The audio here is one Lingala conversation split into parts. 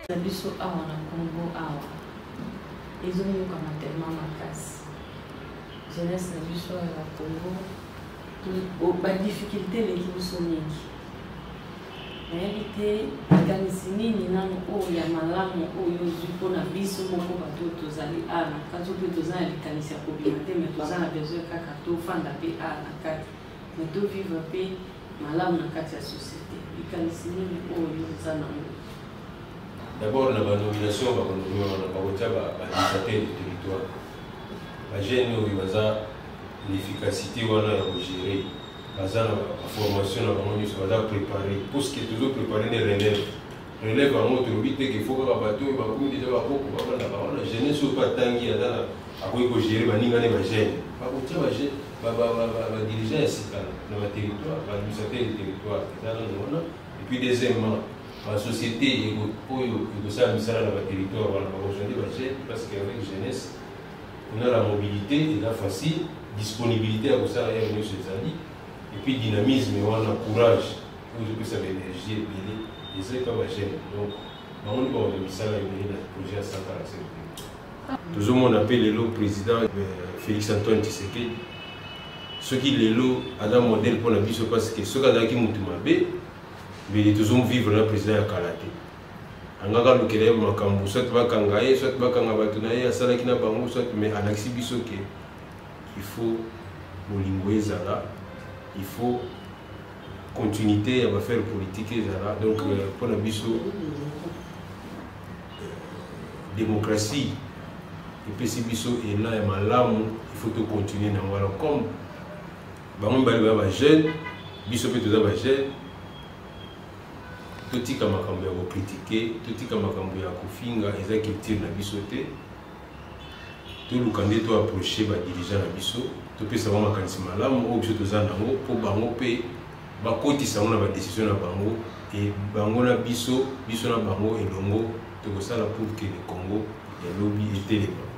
na biso awa na congo awa ezoyokana tellement makasi jeunesse na biso awa na congo badifficulté eleki biso mingi nayebi te likanisi nini nano oyo ya malamu oyo ozwi mpo na biso moko bato oyo tozali awa na kati mpe toza na likanisi ya kobima te mai toza na besoin kaka tofanda mpe awa na kati mai tovivre mpe malamu na kati ya société likanisi nini oyo oza nango d'abord na banomination bakonomi wana bakotya baadministrateur du territoire bagene oyo baza l'efficacité wana ya kogere baza na formation na bango nyonso baza prépare puisque tozo prépare nde relève relève yango tolobi te ke fo kaka bato oyo bakomi deja bakoko bafandaka wana jeunesse oyo mpe atangi aza na akoki kogere baninga ne bagene bakotia badirigeant ya sika na baterritoire baadministrateur ya territoire eza nano wana epuis deuxièmement basociété oyo ekosala misala na baterritoire wana bakozwa nde bagene parce que avec jeunesse kuna la mobilité eza facile disponibilité ya kosala heure nyonso ezali epuis dynamisme wana courage oyo ezopesa baénergie ebele eza epa bagene donc bango nde bakoto misala ebele na projet ya santa na sebe tozomona mpe lelo président euh, félix antoine tshisekedi soki lelo aza modèle mpo na biso parce que soki azalaki motu mabe mbele tozomvivre na président ya kala te angaka alukela ye makambo soit bakanga ye soit bakanga bato na ye asalaki na bango soit mais alakisi biso ke il faut bolingo ezala il faut continuité ya bafaire politique ezala donc euh, mpo na biso euh, démocratie epesi biso elan ya malamu il faut tocontinue na yango alors comme bango mibale baya bajeune biso mpe toza bajeune totika makambo ya kokritike totika makambo ya kofinga eza culture na biso te toluka nde to approche badirigeant na biso topesa bango makanisi malamu oyo biso toza nango mpo bango mpe bakotisa yango na badesizio na bango e bango na biso biso na bango elongo tokosala pour que le congo ya lobi etelema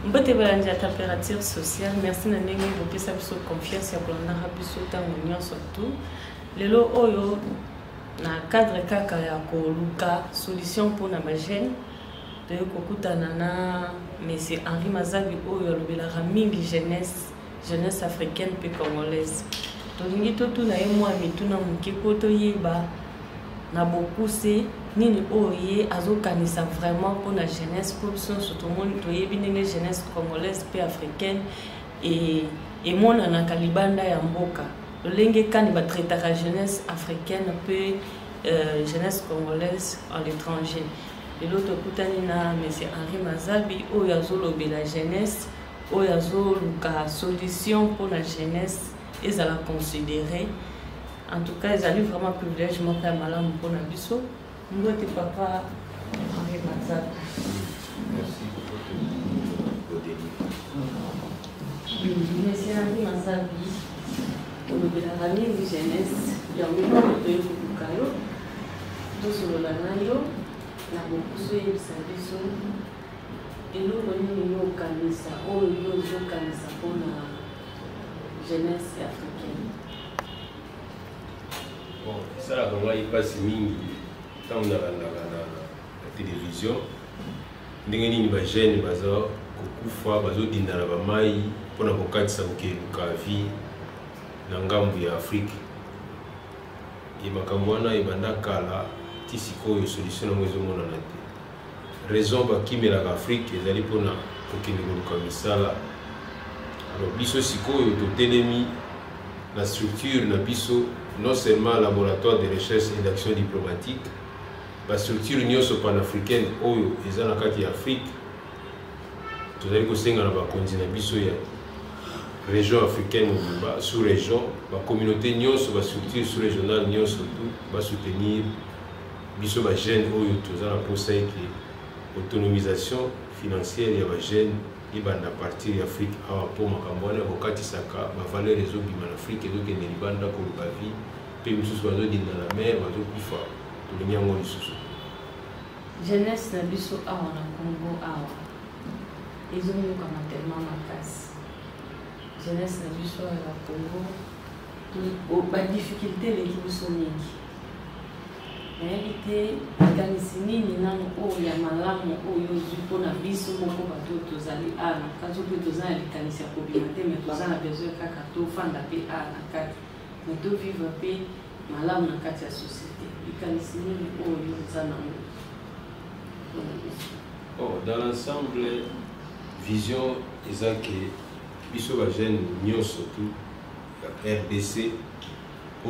mbote balandi ya température sociale merci na ndenge bopesa biso confiance ya kolandaka biso ntango nyonso tu lelo oyo na cadre kaka ya koluka solution mpona bagene toyei kokutana na monsieur henri mazabi oyo alobelaka mingi jeunesse jeunesse africaine mpe congolaise tolingi totuna ye mwa mituna moke mpo toyeba na bokuse nini oyo ye azokanisa vraiment mpo na jeunesse mpo biso nyonso tomoni toyebi ndenge jeunesse congolaise mpe africaine emonanaka libanda ya mboka lolenge kani batraitaka jeunesse africaine mpe euh, jeunesse congolaise en l'étranger lelo tokutani na monsieur henri mazabi oyo azolobela jeunesse oyo azoluka solution mpo na jeunesse ezala considere en tout cas ezali vraiment privilège moko ya malamu mpo na biso mbote papa henri mazaka monsieur henri mazabi olobelaka mingi jeunesse yango moko toye koluka yo tosolola na yo na bokusu oyebisa biso Eloko nini yo okanisa oyo yo ozokanisa mpona jeunesse africaine? Bon, esalaka ngai mpasi mingi ntango nalandaka na televizio ndenge nini bajeune baza kokufa bazodinda na bamai mpo na kokatisa kokeluka vie na ngambo ya afrike ye makambo wana ebanda kala ti sikoyo solution yango ezomonana te raison bakimelaka afrique ezali mpona kokende koluka misala alors biso sikoyo totelemi na structure na biso non seulement laboratoire de recherche et d'action diplomatique bastructure nyonso panafricaine oyo eza na kati ya afrique tozali kosenga na bakonzi na biso ya région africaine mobimba sous région bacommunauté nyonso bastructure sous régionale nyonso tu basoutenir biso ba jeune oyo toza na posa ete autonomisation financière ya ba jeune ebanda partir ya afrique awa mpo makambo wana ekokatisaka bavaleur ezobima na afrique ezokende libanda koluka vie mpe misusu bazodinda na mer bazokufa tolingi yango lisusu jeunesse na biso awa na congo awa ezonyokama tellement makasi jeunesse na biso awa na congo badifficulté eleki biso mingi nayebi te likanisi nini nano oyo ya malamu oyo ozwi mpo na biso moko bato oyo tozali awa na kati mpe toza na likanisi ya kobima te me toza na besoin kaka tofanda mpe awa na kati me tovivre mpe malamu na kati ya société likanisi nini oyo oza nango mpo na biso oh, dans l'ensemble vision eza ke biso bajeune nyonso tu ya rdc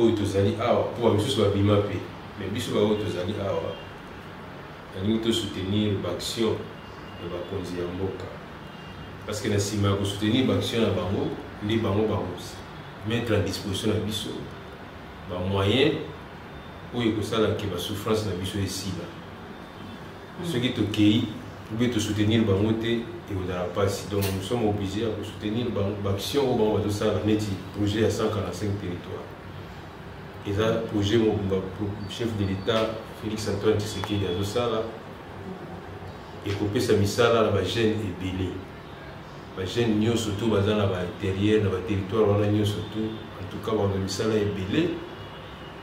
oyo tozali awa mpo bamisusu babima mpe me biso baoyo tozali awa nalingi tosoutenir baaction ya bakonzi ya mboka parce que na nsima ya kosoutenir baaction na bango nde bango bakomettre à disposition na biso bamoyen oyo ekosala ke basouffrance na biso esila soki tokei oubien tosoutenir bango te ekozala mpasi donc nous sommes obligé ya kosoutenir bango baaction oyo bango bazosala neti projet ya 145 territoire eza projet mobimba chef de l'état félix antoine tshisekedi azosala ekopesa misala na bajeune ebele bajeune nyonso to baza na bainterieur na baterritoire wana nyonso to en tout cas bana misala ebele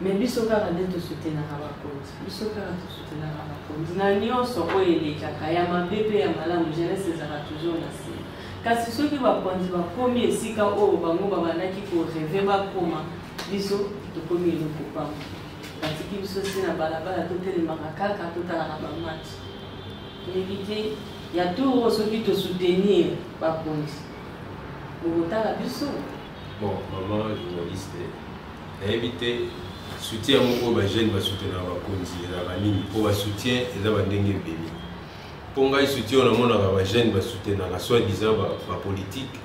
mais biso kaka nde tosutenaka bakonzi biso kaka tosutenaka bakonzi na nyonso oyo elekaka ya mabe mpe ya malamu jeunesse ezalaka toujours na nsima kasi soki bakonzi bakomi esika oyo bango babandaki koreve bakoma biso tokomi eloko pamba batiki biso si na balabala totelemaka kaka totalaka bamati toyebi te ya tour oyo soki tosoutenir bakonzi bokotala biso Bon, maman journaliste, nayebi te soutien yango oyo bajeune basoutenaka bakonzi ezalaka nini mpo basoutien eza bandenge ebele mpo ngai soutien oyo namonaka bajeune basoutenaka soit disant bapolitique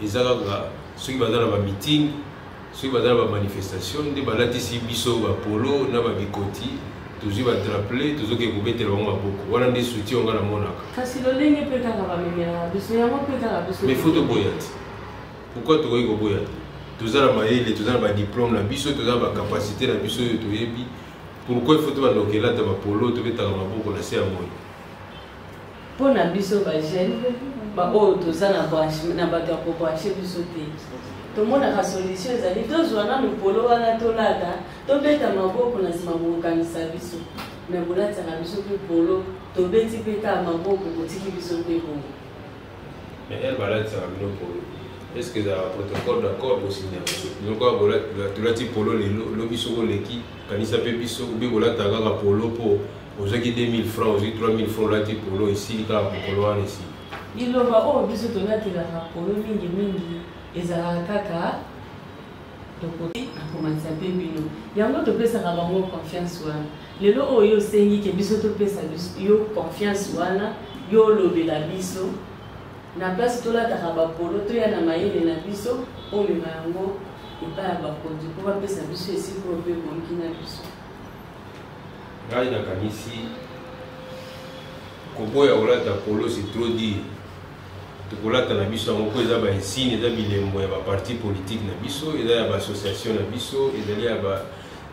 eza kaka soki baza na bamiting soki baza na bamanifestation nde balatisi biso bapolo na babikoti tozwi badraple tozoki kobetela bango maboko wana nde soutien onga namonaka kasi lolenge mpe kaka bamemelaka biso yango mpe kaka biso mais fo toboya te Pourquoi tokoki koboya te? Toza na mayele, toza na ba diplôme na biso, toza na ba capacité na biso oyo toyebi. Pourquoi il faut tobanda kokelata bapolo tobetaka maboko na se ya moi? Mpo na biso ba jeune baoyo toza na bato ya kobranche biso te tomonaka solution ezali tozwa nanu polo wana tolata tobeta maboko na nsima kokokanisa biso me bolatisaka biso mpe polo tobeti mpe kaka maboko kotiki biso mpe bongo Mais elle balakisaka bino polo. Est-ce que ezalaka protocole d'accord bosinya biso? Bino kaka tolati polo lelo, lobi soko oleki, kanisa mpe biso obe kolataka kaka polo mpo ozwaki 2000 francs, ozwi 3000 francs olati polo esili kaka mokolo wana esili. Liloba oyo biso tolatelaka polo mingi mingi ezalaka kaka tokoki akomatisa mpe bino yango topesaka bango confiance wana lelo oyo osengi ke biso topesa yo confiance wana yo olobela biso na place tolataka bapolo toya na mayele na biso omema yango epai ya bakonzi mpo bapesa biso esika oyo mpe ebongi na biso ngai nakanisi koboya kolata polo se trop dire tokolata na biso yango mpo eza bainsigne eza bilembo ya baparti politike na biso eza ya baassociation na biso ezali ya ba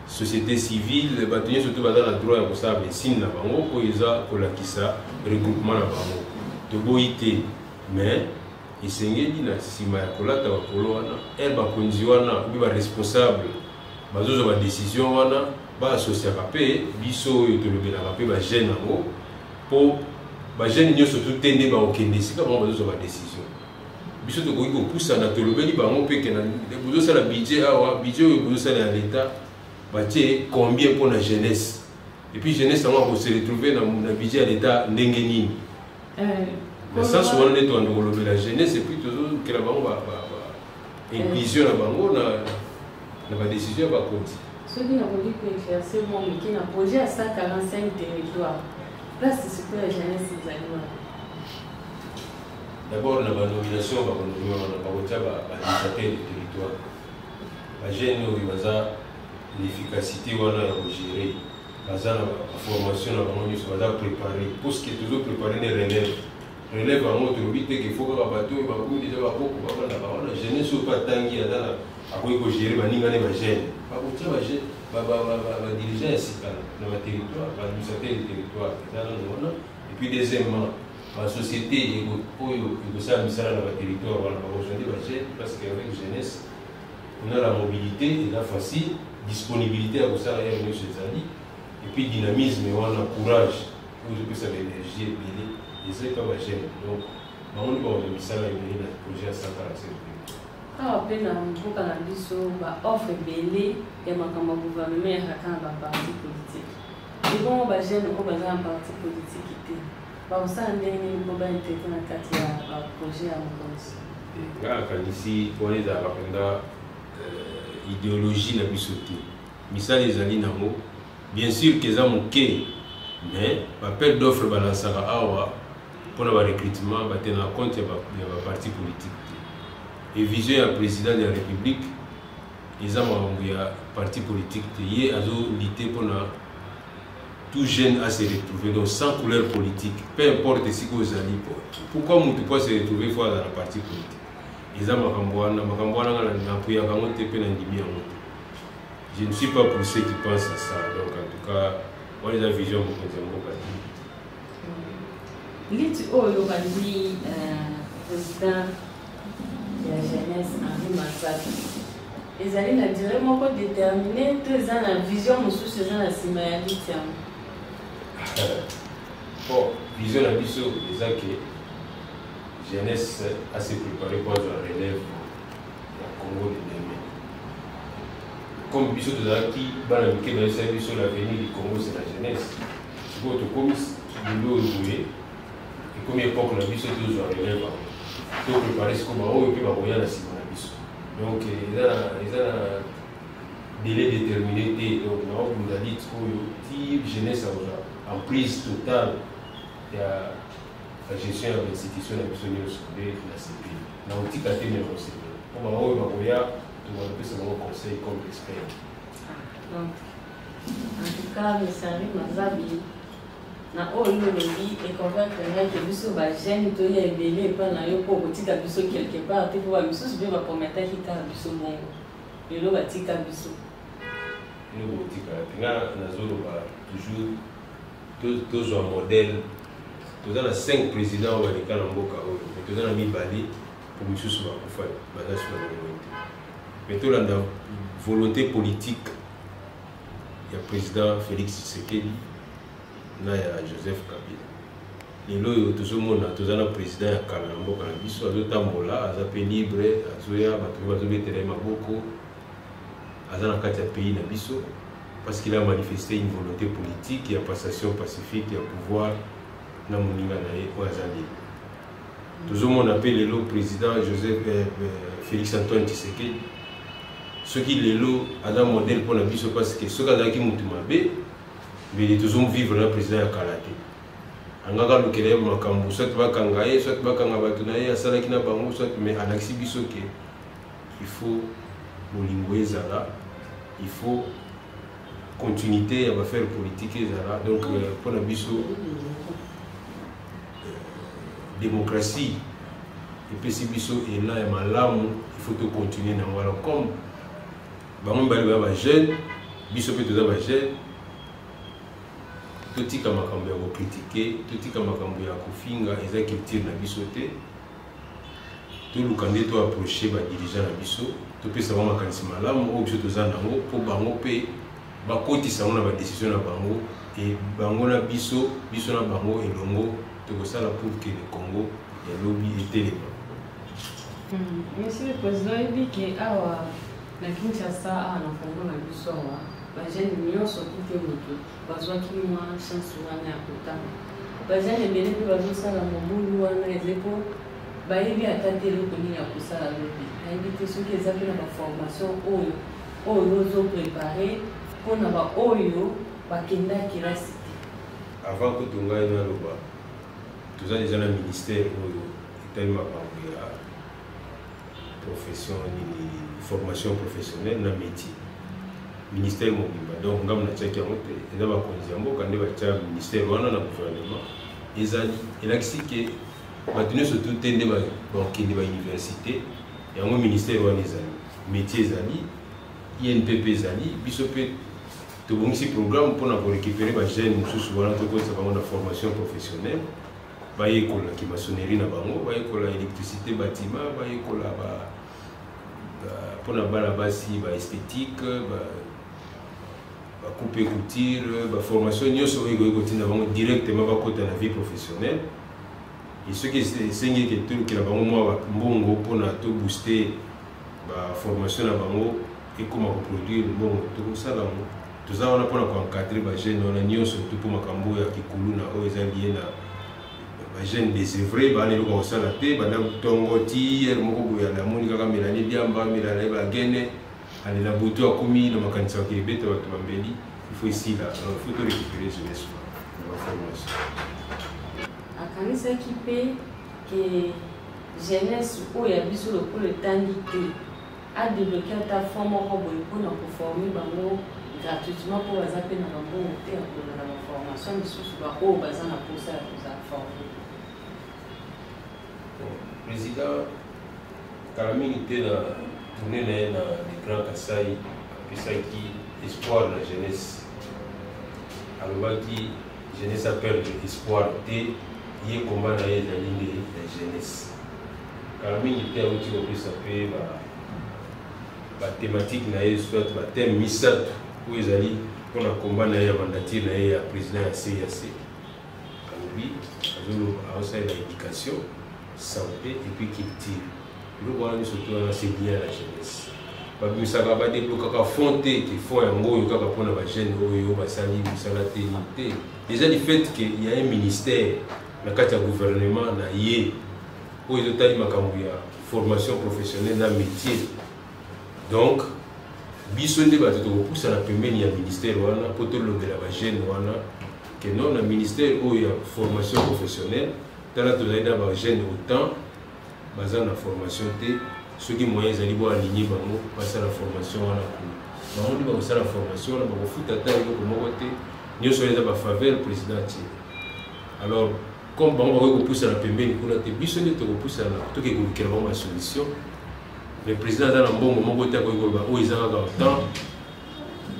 société civile bato nyonso te baza na droit ya kosala mesine na bango mpo eza kolakisa regroupement na bango toboyi te mais esengeli na nsima ya kolata bakolo wana e bakonzi wana obi baresponsable bazozwa badecision wana baasosiaka mpe biso oyo tolobelaka mpe bajeune yango mpo bajeune nyonso to te nde bakokende esika bango bazozwa badecision biso tokoki kopusana tolobeli bango mpe kena bozosala budget awa budget oyo bozosala ya leta batie combien mpo na jeunesse epuis jeunesse yango akose retrouve na budget ya leta ndenge nini eh, na sens wana nde toyanda kolobela jeunesse epuis tozokela bango eh. inclusion na bango na badécision ya bakonzi soki nakoki koeclairce mwa moke na projet ya 145 territoire place sikoyo ya jeunesse ezali wana D'abord na ba nomination ba konomia wana ba kotia ba administrateur du territoire. Ba jeunes oyo baza l'efficacité wana ya ko gérer. Baza na ba formation na bango nyonso baza préparer. Pour ce que toujours préparer ne relève. Relève yango tolobi te qu'il faut kaka bato oyo bakomi deja bakoko bafanda ba wana jeunesse oyo mpe atangi aza na akoki ko gérer baninga ne ba jeunes. Ba kotia ba jeunes ba ba ba ba ba dirigeants ya sika na ba territoire, ba administrateur du territoire. Eza nano wana. Et puis deuxièmement basociété oyo ekosala misala na baterritoire wana bakozwa nde bagene parce que avec jeunesse kuna la mobilité eza facile disponibilité ya kosala yere nyonso ezali epuis dynamisme wana courage oyo ezopesa baénergie ebele eza epa bagene donc bango nde bakozwa misala ebele na projet ya 145 awa mpe na mboka na biso baoffre ebele ya makambo ya gouvernement eyaka kaka na baparti politique ebongo bagene oyo baza na parti politique te bakosala ndenge nini mpo baintegrate na kati ya baprojet ya mokonzi nga nakanisi wana ezalaka mpenza euh, ideologie na biso te misala ezali nango bien sûr ke eza moke mais bapel d'offre balansaka awa mpo na barecrutement batenaka compte ya baparti politique te e vision ya président de la république eza makambo ya parti politique te ye azolite mpo na tout jeune a se retrouver donc sans couleur politique peu importe esika ozali po pourquoi motu po ase retrouver fo azala parti politique eza makambo wana makambo wana nga napuyaka yango te mpe nandimi yango te je ne suis pas pour ceux qui pense à ça donc en tout cas wana eza vision mokonzi ya mboka te liti oyo bandi euh, président ya jeunesse Henri Masaki ezali na dire moko determine to eza na vision mosusu eza na nsima ya liti yango bon vision na biso eza ke jeunesse ase prépare po azwa relève ya congo de demain comme biso tozalaki bana mike bayesaki biso l'avenir du congo c'est la jeunesse sikoyo tokomi lelo oyo boye ekomi epoque na biso tozwa relève yango to prépare siko baoyo mpe bakoya na nsima na biso donc eza na délai déterminé te donc naobunda lite oyo ti jeunesse akozwa emprise totale ya gestion ya bainstitution na biso nyonso nde na sepe na kotika te me kosepe mpo baoyo bakoya tokopesa bango conseil comme expert ah, donc en tout cas mesari mazabi na oyo yo olobi econvaincre ngai ke biso bajeune toya ebele epai na yo mpo okotika biso quelque part te mpo bamisusu mpe baprometaki kaka biso bongo lelo batika biso kotika te nga nazoloba toujours tozwa modèle toza na 5 président oyo baleka na mboka oyo me toza na mibale mpo misusu bakufa baza suna na yango te me tolanda volonté politique ya président Félix Tshisekedi na ya Joseph Kabila lelo oyo tozomona toza na président ya kala na mboka na biso azotambola aza mpe libre azoya bato mpe bazobetela ye maboko aza na kati ya pays na biso parce qu'il a manifesté une volonté politique ya passation pacifique ya pouvoir na moninga na ye oyo aza lelo tozomona mpe lelo président joseph eh, eh, félix antoine tshisekedi soki lelo aza modèle mpo na biso parce que soki azalaki motu mabe mbele tozomvivre na président ya kala te angaka alukela ye makambo soit bakanga ye soit bakanga bato na ye asalaki na bango soit mais alakisi biso ke il faut bolingo ezala il faut continuité ya bafere politique ezala donc euh, mpo na biso Démocratie epesi biso elan ya malamu il faut to continuer na yango alors comme bango mibale baya bajeune biso mpe toza bajeune totika makambo ya kokritike totika makambo ya kofinga eza culture na biso te toluka nde toaproche badirigeant na biso topesa bango makanisi malamu oyo biso toza nango mpo bango mpe bakotisa yango na badesizio na bango e bango na biso biso na bango elongo tokosala pour que le congo ya lobi etelema hmm, monsieur le président oyebi ke awa na kinshasa awa na congo na biso awa bajene nyonso kute moto bazwaki mwa chance wana ya kotanga bajene ebele mpe bazosala mobulu wana eze mpo bayebi ata te eloko nini ya kosala lobi nayebi te soki eza mpe na baformation oyo oyo yo ozo prepare mpo na baoyo bakenda kelasi te avant kutu ngai naloba toza deja na ministère oyo etali makambo ya profession nini formation professionnelle na métier ministère mobimba donc ngambo natiaki yango te eza bakonzi ya mboka nde batya ministère wana na gouvernement ezali elakisi ke bato nyonso tu te nde bakende bauniversité yango ministère wana ezali metier ezali inpp ezali biso mpe tobongisi programme mpona korecupere bajeune mosusu wana tokotisa bango na formation professionnelle bayekola kimasonnerie na bango bayekola électricité batima bayekola mpona bana basi ba esthétique bacoupe couture baformation nyonso oyo ekoki kotinda bango directement bakota na vie professionnelle Et ce qui est singé que tout le bango moi mbongo pour na tout booster ba formation na bango et comment produire mbongo tout ça là tout ça on a pour encadrer ba jeunes on a nion surtout pour makambo ya kikulu na oyo eza lié na ba jeunes des œuvres ba ne ko sala te ba na tongo ti er moko boya na moni kaka melanie diamba melanie ba gene alela butu akomi na makanisi yake ebeta bato bambeli ifo esila alors ifo torekipere jeunesse na baformation akanisaki mpe ke jeunesse oyo ya biso lokola etangi te adebloke ata fond moko boye mpona koforme bango gratuitement mpo baza mpe na bambongo te ya kolanda baformation misusu baoyo baza na mposa ya kozala forme President kala mingi te na tourne na ye na le grand kasai apesaki espoir na jeunesse alobaki jeunesse aperdre espoir te ye komba na ye ezali nde ya jeunesse kala mingi te auti kopesa mpe bathematike na ye soit bathème misato oyo ezali mpona komba na ye ya mandature na ye ya président ya cac alobi aosalela éducation santé epuis culture biloko wana nyonso to wana c'est bien la jeunesse babimisaka badeblokaka fond te te fond yango oyo kaka mpona bajeune oyo basali mosala te ni te déjà du fait que ya un ministère na kati ya gouvernement na ye oyo ezotali makambo ya formation professionnelle na métier donc biso nde bato tokopusana pembeni ya ministère wana mpo tolobela bajeune wana que non na ministère oyo ya formation professionnelle tala tozali na bajeune autant baza na formation te soki moyen ezali bo aligne bango basala formation wana kuna bango nde bakosala formation wana bakofuta ata eloko moko te nyonso wana eza bafaveur président atie alors comme bango bakoki kopusana pembeni kuna te biso nde tokopusana toke kolukela bango basolution mais président aza na mbongo moko te akoki koloba oyo eza kaka temps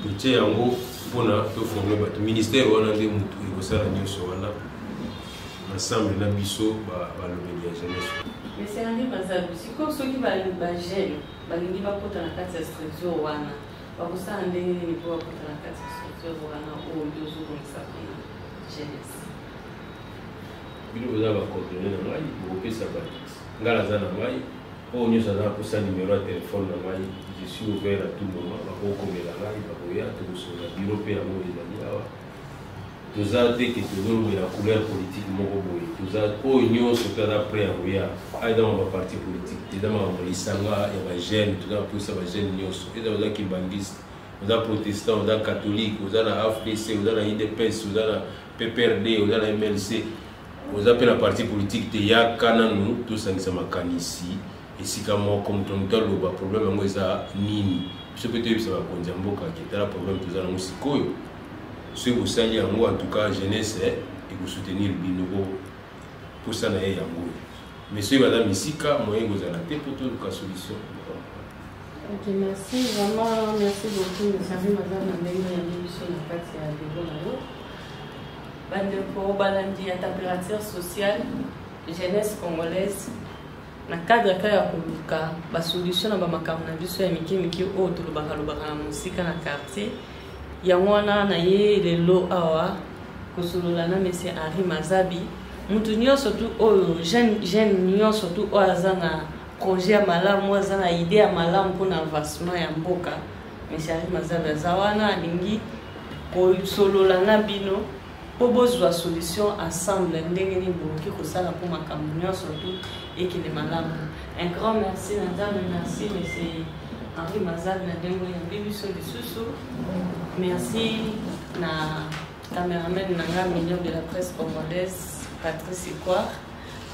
totie yango mpona toforme bato ministère wana nde motu ekosala nyonso wana ensemble na biso balobeli ya jeunesse esengi bazabi sikoyo soki bagene balingi bakota na kati ya structure wana bakosala ndenge nini mpo bakota na kati ya structure wana oyo nde ozobongisa mpona jeunesse bino boza bacoordonne na ngai bokopesa bato ngai naza na ngai oyo nyonso aza akosa numero ya telefone na ngai je suis ouvert à tout moment bakokomela ngai bakoya tokosolola biro mpe yango ezali awa toza te ke tozolobela couleur politique moko boye toza oyo nyonso mpe aza près ya koya aza ma baparti politique te eza makambo lisanga ya bajeune toza kopusa bajeune nyonso eza oza kimbangiste oza protestant oza catholique oza na afdc oza na idps oza na pprd oza na mlc oza mpe na parti politike te yaka nanu tosangisa makanisi esika moko moto moto aloba problème yango eza nini biso mpe toyebisa bakonzi ya mboka ke tala problème toza nango sikoyo soki bosali yango en tout cas jeunesse eh, ekosoutenir bino po posa na ye yango oyo mais soki baza misika moyen ekozala te mpo toluka solution Ok, merci. Vraiment, merci beaucoup. Nous savons madame la meilleure amie sur la carte à Debo bandeko balandi ya température sociale jeunesse congolaise na cadre kaka ya koluka basolution na bamakambo na biso ya mike mike oyo tolobaka lobaka na mosika na quartier yango wana na ye lelo awa kosolola na monsieur henri mazabi moto nyonso tu oyo jeune nyonso tu oyo aza na projet ya malamu aza na idée ya malamu mpona avancement ya mboka mais charge mazabe aza wana alingi kosolola na bino mpo bozwa solution ensemble ndenge nini bokoki kosala mpo makambo nyonso tu ekende malamu un grand merci na nzambe merci monsieur henri mazabe na ndenge oyo yambi biso lisusu merci na cameraman na nga million de la presse congolaise patrice equar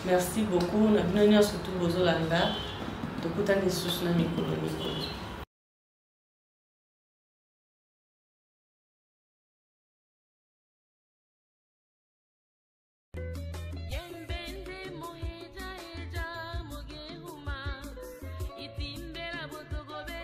Merci beaucoup na bino nyonso tu bozolanda tokutani lisusu na mikolo mikolo